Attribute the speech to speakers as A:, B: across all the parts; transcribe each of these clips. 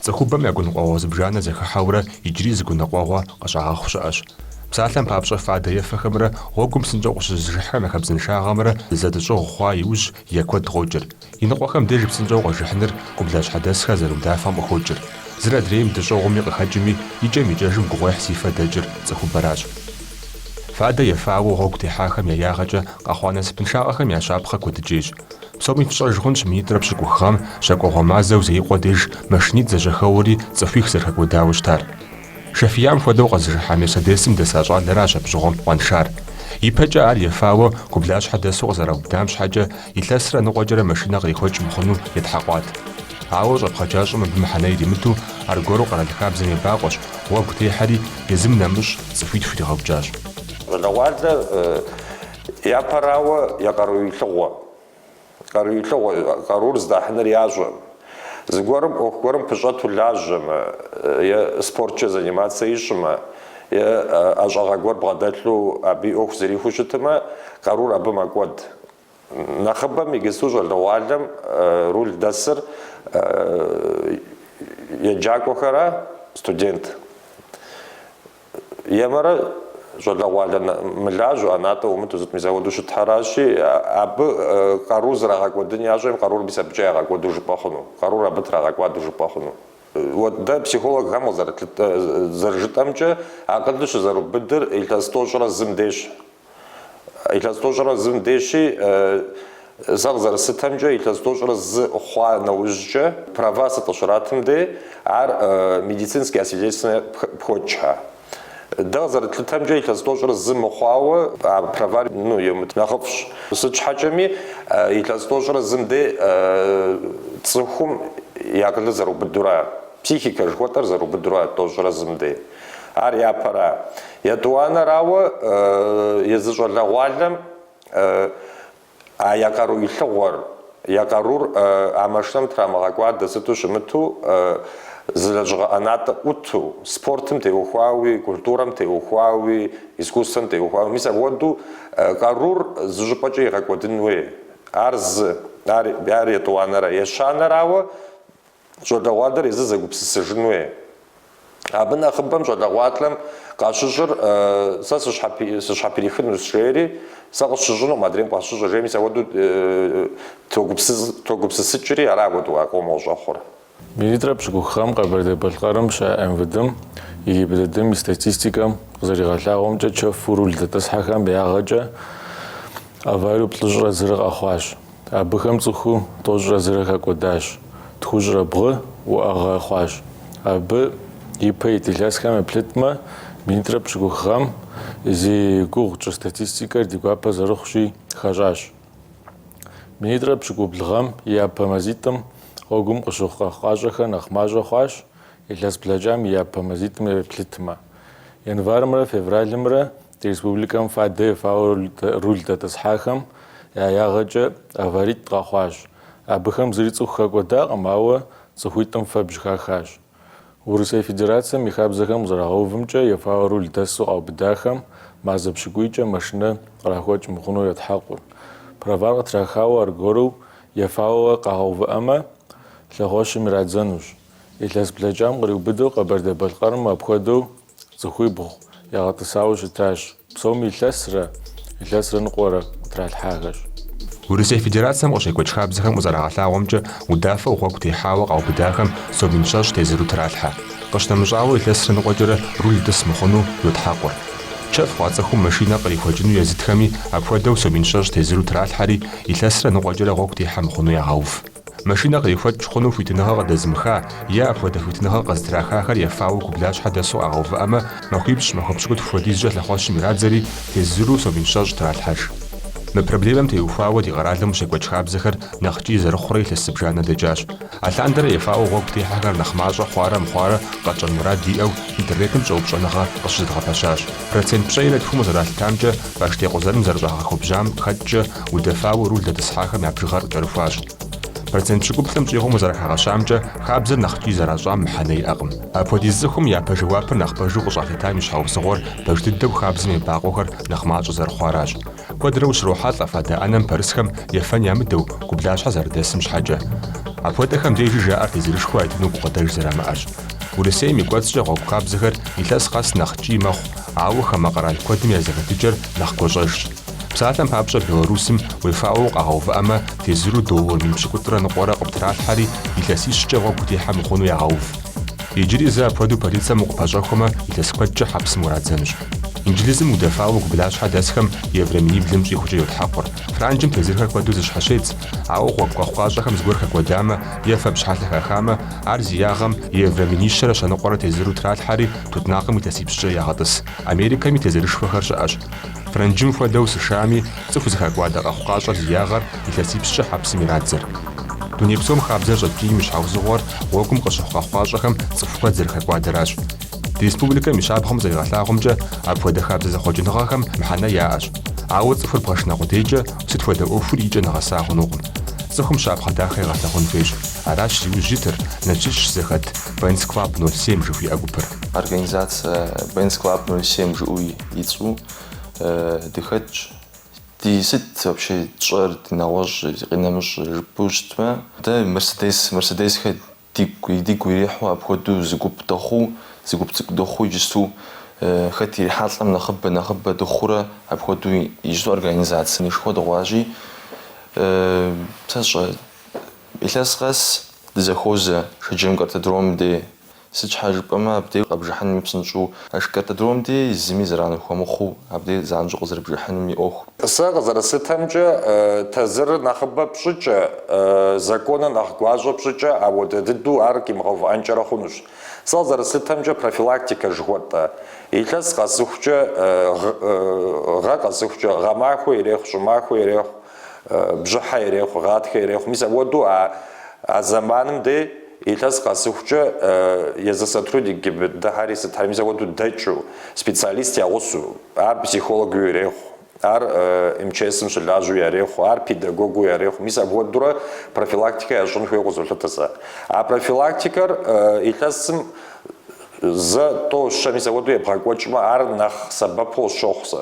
A: Цӏыхубэм я гуныкъуэгъуэ зыбжанэ зэхыхьэурэ иджыри зы гуныкъуэгъуэ къыщагъэхъу щыӏэщ. Псалъэм папщӏэ, фадэ ефэхэмрэ гъуэгум псынщӏэу къыщызыжыхьхэм я хабзэншагъэмрэ зэдыщӏыгъу хъуа иужь, Е куэд къокӏыр. Иныкъуэхэм деж псынщӏэу къэжыхьыныр гублащхьэдэсхэр зэрыудафэм къыхокӏыр. Зыр адрейм дыщӏыгъуми къыхэкӏыми, икӏэм-икӏэжым гугъуехь зи фэ дэкӏыр цӏыхубэращ. Фадэ ефауэу гъуэгу техьахэм я ягъэкӏэ къэхъуа насыпыншагъэхэм я щапхъэ куэдыкӏейщ. Псоми фщӏэж хъунщ минитӏрэ пщыкӏух гъэм щакӏуэгъуэ мазэу Зеикъуэ деж машинитӏ зэжьэхэуэри цӏыхуих зэрыхэкӏуэдауэ щытар. Шэ фиям хуэдэу къэзыжыхьа Мерседесым дэса щӏалэращ абщыгъуэм къуаншар. Ипэкӏэ ар ефауэ гублащхьэ дэсу къызэраубыдам щхьэкӏэ, илъэсрэ ныкъуэкӏэрэ машинэ кърихуэкӏ мыхъуну ятхьэкъуат. Ауэ щӏэпхъаджащӏэм абы мыхьэнэ иримыту, аргуэру къэрал хабзэм ебакъуэщ, гъуэгу техьэри, езым нэмыщӏ цӏыхуитху иригъэукӏащ. Щӏалэгъуалэр япэрауэ, я къару илъыгъуэ. Къару илъыгъуэ къарур здахьыныр ящӏэ. Зыгуэрым ӏуэху гуэрым пыщӏэту лажьэмэ е спорткӏэ заниматься ищӏмэ е ӏэщӏагъэ гуэр бгъэдэлъу абы и ӏуэху зэрихуэу щытмэ, къарур абы мэкӏуэд. Нэхъыбэм иджыпсту щӏалэгъуалэм руль дэсыр еджакӏуэхэра, студент? Емэрэ щӏалэгъуалэ мылажьэу, ӏэнатӏэ ӏумыту сыт мис апхуэдэу щытхэращи, абы къарур зрагъэкӏуэдын ящӏэӏым, къарур мис абыкӏэ ягъэкӏуэду жыпӏэ хъуну, къарур абы трагъэкӏуадэу жыпӏэ хъуну. Вот дэ психологхэм къызэрыт, зэрыжытӏэмкӏэ, акъылыр щызэрубыдыр илъэс тӏощӏрэ зым дейщ, Илъэс тӏощӏрэ зым дейщи, сэ къызэрыслъытэмкӏэ, илъэс тӏощӏрэ зы хъуа нэужькӏэ, права сыт къыщратым дей, ар медицинскэ освидетельствование пхочхьэ. Дэ къызэрытлъытэмкӏэ, илъэс тӏощӏрэ зы мыхъуауэ, а правар, ну, емыт нэхъыфӏщ. Сыт щхьэкӏэми, илъэс тӏощӏрэ зым дей цӏыхум и акъылыр зэрыубыдура, психикэ жыхуэтӏэр зэрыубыдура тӏощӏрэ зым дей. Ар япэра. Етӏуанэрауэ, езы щӏалэгъуалэм а я къару илъыгъуэр, я къарур а машинэм трамыгъэкӏуадэ сыту щымыту, зы лэжьыгъэ ӏэнатӏэ ӏуту, спортым теухуауи, культурэм теухуауи, искусствэм теухуауи, мис апхуэдэу къарур зы щӏыпӏэкӏэ игъэкӏуэдын хуей. Ар зы. Ар етӏуанэра. Ещанэрауэ, щӏалэгъуалэр езыр зэгупсысыжынуи. Абы нэхъыбэм щӏалэгъуалэм къащыщӏыр сэ сыщхьэприхынущ жери, сэ къысщыщӏынукъым адрейм къыщыщӏыр жери, мис ахуэдэу тогупсысыкӏри, ара ахуэдэу къомыр къыщӏэхъур. Минитӏрэ пщыкӏух гъэм Къэбэрдей-Балъкъэрым щыӏэ МВД-м и ГИБДД-м и статистикэм къызэригъэлъагъуэмкӏэ, чэфу руль дэтӏысхьэхэм ягъэкӏэ авариеу плӏыщӏрэ зырэ къэхъуащ. Абыхэм цӏыху тӏощӏрэ зырэ хэкӏуэдащ, тхущӏрэ бгъу уӏэгъэ хъуащ. Абы ипэ ит илъэсхэм еплъытмэ, минитӏрэ пщыкӏух гъэм зи гугъу тщӏа статистикэр ди гуапэ зэрыхъущи, хэщӏащ. Минитӏрэ пщыкӏубл гъэм и япэ мазитӏым гъуэгум къыщыхъу къэхъукъащӏэхэр нэхъ мащӏэ хъуащ, илъэс блэкӏам и япэ мазитӏым еплъытмэ. Январымрэ февралымрэ Ди республикэм фадэ ефауэ руль дэтӏысхьахэм я ягъэкӏэ аваритӏ къэхъуащ. Абыхэм зыри цӏыху хэкӏуэдакъым, ауэ цӏыхуитӏым фэбжь хахащ. Урысей Федерацэм и хабзэхэм къызэрагъэувымкӏэ, ефауэ руль дэсу къаубыдахэм мазэ пщыкӏуийкӏэ машинэ кърахуэкӏ мыхъуну етхьэкъур. Правар къытрахауэ аргуэру ефауэ къагъэувыӏэмэ, лъэхъуэщым ирадзэнущ. Илъэс блэкӏам къриубыдэу Къэбэрдей-Балъкъэрым апхуэдэу Цӏыхуибгъу ягъэтӏысауэ щытащ. Псоми илъэсрэ илъэсрэ ныкъуэрэ къытралъхьахэщ. Урысей Федерацэм къыщекӏуэкӏ хабзэхэм къызэрагъэлъагъуэмкӏэ удафэу гъуэгу техьауэ къаубыдахэм сом мин щэщӏ тезыру тралъхьэ. Къыщынэмыщӏауэ илъэсрэ ныкъуэкӏэрэ руль тӏыс мыхъуну йотхьэкъур. Чэф хъуа цӏыхум машинэ кърихуэкӏыну езытхэми апхуэдэу сом мин щэщӏ тезыру тралъхьэри, илъэсрэ ныкъуэкӏэрэ гъуэгу техьэ мыхъуну ягъэув. Машинэ кърихуэкӏ хъуну хуитыныгъэ къыдэзымыха е апхуэдэ хуитыныгъэ къызытрахахэр ефауэ гублащхьэ дэсу къагъэувыӏэмэ, махуипщӏ, махуэ пщыкӏутху хуэдизкӏэ лъэхъуэщым ирадзэри, тезыру сом мин щэщӏ тралъхьэж. Мы проблемэм теухуауэ ди къэралым къыщекӏуэкӏ хабзэхэр нэхъ ткӏий зэрыхъурэ илъэс зыбжанэ дэкӏащ. Алъандэрэ ефауэ гъуэгу техьэхэр нэхъ мащӏэ хъуарэ мыхъуарэ къэтщӏэн мурад диӏэу интернетым щӏэупщӏэныгъэ къыщызэдгъэпэщащ. Процент пщӏейрэ тхум къызэралъытамкӏэ, баш текъузэным зэрыщӏагъэхуэбжьам хэкӏкӏэ удэфауэ руль дэтӏысхьахэм я бжыгъэр кӏэрыхуащ. Процент пщыкӏуплӏым щӏигъум къызэрыхагъэщамкӏэ, хабзэр нэхъ ткӏий зэращӏам мыхьэнэ иӏэкъым. Апхуэдиз цӏыхум япэ жэуапыр нэхъ пэжу къыщӏалъытам и щхьэусыгъуэр пэж дыдэу хабзэм ебакъуэхэр нэхъ мащӏэ зэрыхъуаращ. Куэдрэ ущрохьэлӏэ фадэ ӏэнэм пэрысхэм ефэн ямыдэу, гублащхьэ зэрыдэсым щхьэкӏэ. Апхуэдэхэм дежи жаӏэр тезырышхуэ ятыну гукъыдэж зэрамыӏэрщ. Урысейм и кӏуэцӏкӏэ гъуэгу хабзэхэр илъэс къэс нэхъ ткӏий мэхъу, ауэ хамэ къэрал куэдым я зэхэтыкӏэр нэхъ гуащӏэжщ. Псалъэм папщӏэ, Белорусым уефауэ укъагъэувыӏэмэ, тезыру доллар мин пщыкӏутӏрэ ныкъуэрэ къыптралъхьэри, илъэсищкӏэ гъуэгу утехьэ мыхъуну ягъэув. Иджыри зы апхуэдэу полицэм укъыпэщӏэхуэмэ, илъэс куэдкӏэ хьэпсым урадзэнущ. Инджылызым удэфауэ гублащхьэ дэсхэм еврэ миниблым щӏигъукӏэ йотхьэкъур. Франджым тезырхэр куэду зэщхьэщедз, ауэ гъуэгу къэхъукъащӏэхэм зыгуэр хэкӏуэдамэ е фэбжь хьэлъэ хахамэ, ар зи ягъэм еврэ минищэрэ щэныкъуэрэ тезыру тралъхьэри тутнакъым илъэсипщӏкӏэ ягъэтӏыс. Америкэми тезырышхуэхэр щыӏэщ. Франджым хуэдэу, США-ми цӏыху зыхэкӏуадэ къэхъукъащӏэр зи ягъэр Илъэсипщӏкӏэ хьэпсым ирадзэр. Дуней псом хабзэр щӏэткӏийм и щхьэузыгъуэр гъуэгум къыщыхъу къэхъукъащӏэхэм цӏыху куэд зэрыхэкӏуадэращ. Ди республикэм и щапхъэм зэригъэлъагъуэмкӏэ, апхуэдэ хабзэ зэхъуэкӏыныгъэхэм мыхьэнэ яӏэщ. Ауэ цӏыхур бгъэшынэ къудейкӏэ сыт хуэдэ ӏуэхури икӏэ нэгъэса хъунукъым. Цӏыхум щапхъэ дахэ егъэлъагъун хуейщ. Аращ зи ужь итыр, Налшыч щызэхэт Бенц Клаб ноль семь жыхуиӏэ гупыр. Организацэ Бенц Клаб ноль семь жиӏэу и цӏэу дыхэтщ. Ди сыт вообще тщӏэр, ди нэгъуэщӏ, ди къинэмыщӏ жыпӏэу щытмэ, дэ Мерседес, Мерседесхэр дигу, дигу ирихьу апхуэдэу зы гуп дыхъуу, зы гуп цӏыкӏу дыхъуу иджысту хэт ирихьэлӏэм нэхъыбэ, нэхъыбэ дыхъуурэ апхуэдэу иджысту организациенышхуэ дыхъуащи, сэ сщӏэ, илъэс къэс дызэхуозэ Шэджэм картодромым дей. Сыт щхьэ жыпӏэмэ, абдеж къэбжыхьыным и псынщӏэу а картодром де зыми зэран ухуэмыхъуу, абдеж занщӏэу къызэрыбжыхьыным и ӏуэху. Сэ къызэрыслъытэмкӏэ, тазырыр нэхъыбэ пщӏыкӏэ, законыр нэхъ гуащӏэ пщӏыкӏэ, апхуэдэ дыдэу ар къимыгъэувыӏэнкӏэрэ хъунущ. Сэ къызэрыслъытэмкӏэ, профилактикэ жыхуэтӏэ, илъэс къэсыхукӏэ, гъэ къэсыхукӏэ, гъэмахуэ ирехъу, щӏымахуэ ирехъу, бжьыхьэ ирехъу, гъатхэ ирехъу, мис апхуэдэу а зэманым де, Илъэс къэсыхукӏэ, езы сотрудник ГИБДД-хэри сытхэри мис апхуэдэу дэкӏыу, специалист я гъусэу, ар психологыу ирехъу, ар МЧС-м щылажьэу ярехъу, ар педагогыу ярехъу, мис апхуэдэурэ профилактикэ ящӏын хуейуэ къызолъытэ сэ. А профилактикэр илъэсым зэ, тӏо, щэ, мис апхуэдэу ебгъэкӏуэкӏмэ, ар нэхъ сэбэпу къысщохъу сэ.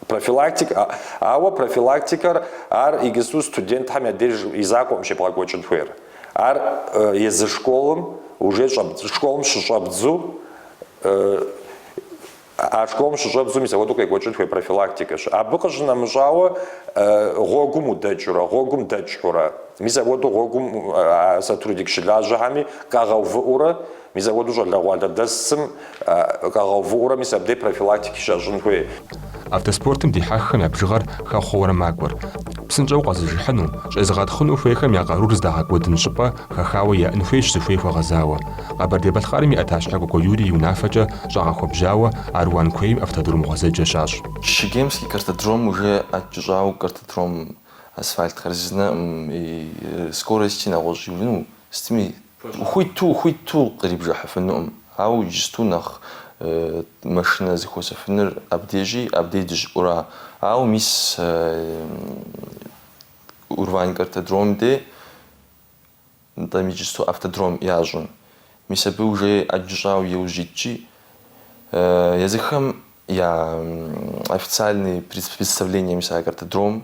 A: Профилактик, ауэ профилактикэр ар иджысту студентхэм я деж и закъуэкъым щебгъэкӏуэкӏын хуейр. Ар езы школым уже щӏэбдз, школым щыщӏэбдзу, а школым щыщӏэбдзу мис апхуэдэу къекӏуэкӏын хуей профилактикэщ. Абы къыщынэмыщӏауэ гъуэгум удэкӏыурэ, гъуэгум дэкӏыурэ, мис апхуэдэу гъуэгум а сотрудник щылажьэхэми къагъэувыӏэурэ Мис апхуэдэу щӏалэгъуалэ дэсым къагъэувыӏэурэ мис абдей профилактикэ щащӏын хуей. Автоспортым дихьэххэм я бжыгъэр хэхъуэурэ макӏуэр. Псынщӏэу къэзыжыхьыну, щӏезыгъэтхъыну хуейхэм я къарур здагъэкӏуэдын щӏыпӏэ хэхауэ яӏын хуейщ зыхуей хуэгъэзауэ. Къэбэрдей-Балъкъэрым и ӏэтащхьэ Кӏуэкӏуэ Юрий и унафэкӏэ щӏэгъэхуэбжьауэ Аруан куейм автодром гъуэзэджэ щащӏ. Чегемский картодром уже ӏэкӏыщӏауэ картодром асфальтхэр зызнэкъым и скорости нэгъуэщӏ иуну Сытми, хуиту-хуиту кърибжыхьыфынукъым, ауэ иджысту нэхъ машинэ зыхуэсыфыныр абдежи, абдей дыщӏыӏура. Ауэ мис Урвань картодромым де, нтӏэм иджысту автодром ящӏым, мис абы уже ӏэджэ щӏауэ иужь итщи, езыхэм я официальный представление мис а картодром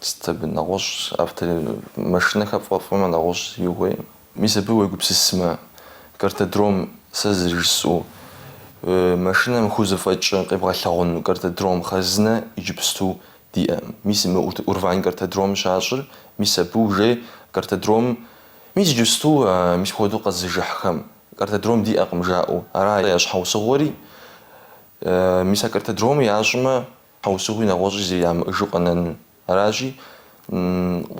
A: Сыт абы нэгъуэщӏ автори машинэхэр фӏэфӏмэ нэгъуэщӏ игуей. Мис абы уегупсысмэ, картодром, сэ зырыжысӏэу, машинэм хузэфӏэкӏыр къебгъэлъэгъуэну картодром хъарзынэ иджыпсту диӏэ. Мис мы Урвань картодром щащӏыр, мис абы уже картодром, мис иджыпсту мис апхуэдэу къэзыжыхьхэм картодром диӏэкъым жаӏэу ара я щхьэусыгъуэри. Мис а картодромыр ящӏмэ, Щхьэусыгъуи нэгъуэщӏи зэи ямыӏэжу къэнэну аращи,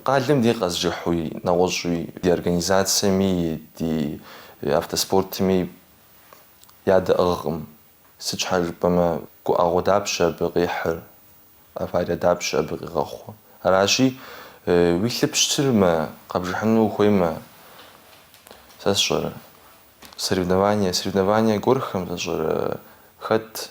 A: къалэм дей къэзыжыхьуи нэгъуэщӏуи ди организацэми, ди автоспортми ядэӏыгъкъым. Сыт щхьэ жыпӏэмэ, гуӏэгъуэ дапщэ абы къихьыр, аварие дапщэ абы къигъэхъур? Аращи, уи лъы пщтырмэ, къэбжыхьыну ухуеймэ, сэ сщӏэрэ, соревнование, соревнование гуэрхэм, сэ сщӏэрэ, хэт.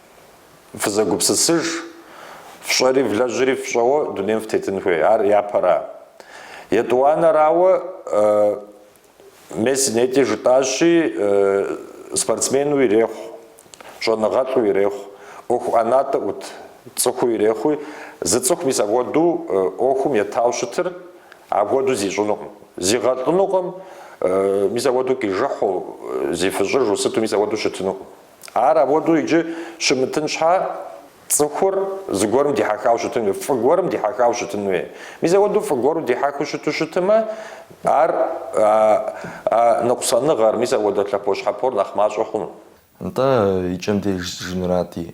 A: Фызэгупсысыж, фщӏэри влэжьри фщӏэуэ дунейм фтетын хуей. Ар япэра? Етӏуанэрауэ, мис нетӏи жытӏащи, спортсмену ирехъу, щӏэныгъэлӏу ирехъу, ӏуэху ӏэнатӏэ ӏут цӏыхуу ирехъуи, зы цӏыху мис апхуэдэу ӏуэхум етауэ щытыр апхуэдэу зищӏынукъым. Зигъэлӏынукъым, мис апхуэдэу къижыхьу, зифыщӏыжу сыту мис апхуэдэу щытынукъым. Ар апхуэдэу икӏи щымытын щхьэ, цӏыхур зыгуэрым дихьэхауэ щытын хуей, фӏы гуэрым дихьэхауэ щытын хуей. Мис апхуэдэу фӏы гуэру дихьэхыу щыту щытымэ, ар а ныкъусаныгъэр, мис апхуэдэ лъэпощхьэпор нэхъ мащӏэ хъуну. Нтӏэ, и кӏэм деж жысӏэнурати,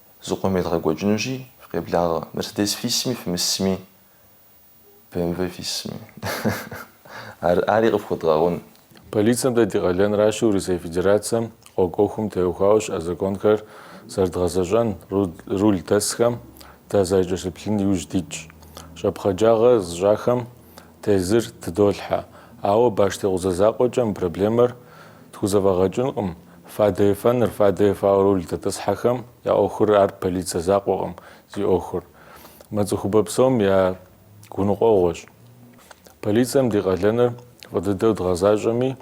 A: Зыкъом едгъэкӏуэкӏынущи, фыкъеблагъэ, Мерседес фисми, фымысми, БМВ фисми. Ар, ари къыфхуэдгъэгъун. Полицэм дэ ди къалэнращи, Урысей Федерацэм гъуэгу ӏуэхум теухуауэ щыӏэ законхэр зэрыдгъэзэщӏэн руль дэсхэм дызэрыкӏэлъыплъын иужь дитщ. Щӏэпхъаджагъэ зыщӏахэм Тезыр тыдолъхьэ, ауэ баш текъузэ закъуэкӏэ мы проблемэр тхузэфӏэгъэкӏынкъым. Фадэ ефэныр, фадэ ефауэ руль дэтӏысхьэхэм я ӏуэхур ар полицэ закъуэкъым зи ӏуэхур. Мы цӏыхубэ псом я гуныкъуэгъуэщ. Полицэм ди къалэныр фӏы дыдэу дгъэзащӏэми,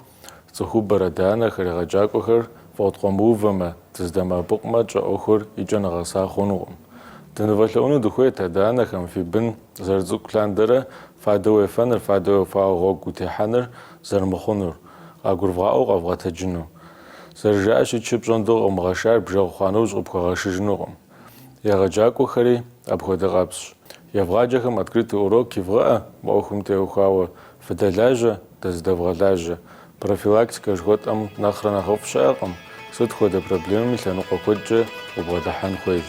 A: Цӏыхубэр, адэ-анэхэр, егъэджакӏуэхэр фыкъыткъуэмыувэмэ, дызэдэмыӏэпыкъумэ, тщӏэ ӏуэхур и кӏэ нэгъэса хъунукъым. Дынывэлъэӏуну дыхуейт адэ-анэхэм фи бын зэрыцӏыкӏу лъандэрэ фадэу уефэныр, фадэу уефауэ гъуэгу утехьэныр зэрымыхъунур, къагурывгъаӏуэу къэвгъэтэджыну. Зэрыжаӏэщи, чы пщӏондэ къыумыгъэшар бжэгъу хъуа нэужь къыпхуэгъэшыжынукъым. егъэджакӏуэхэри апхуэдэ къабзэщ. Евгъаджэхэм открытый урок ивгъэӏэ, мы ӏуэхум теухуауэ фыдэлажьэ, дызэдэвгъэлажьэ. Профилактикэ жыхуэтӏэм нэхърэ нэхъыфӏ щыӏэкъым, сыт хуэдэ проблемэми лъэныкъуэ куэдкӏэ убгъэдыхьэн хуейщ.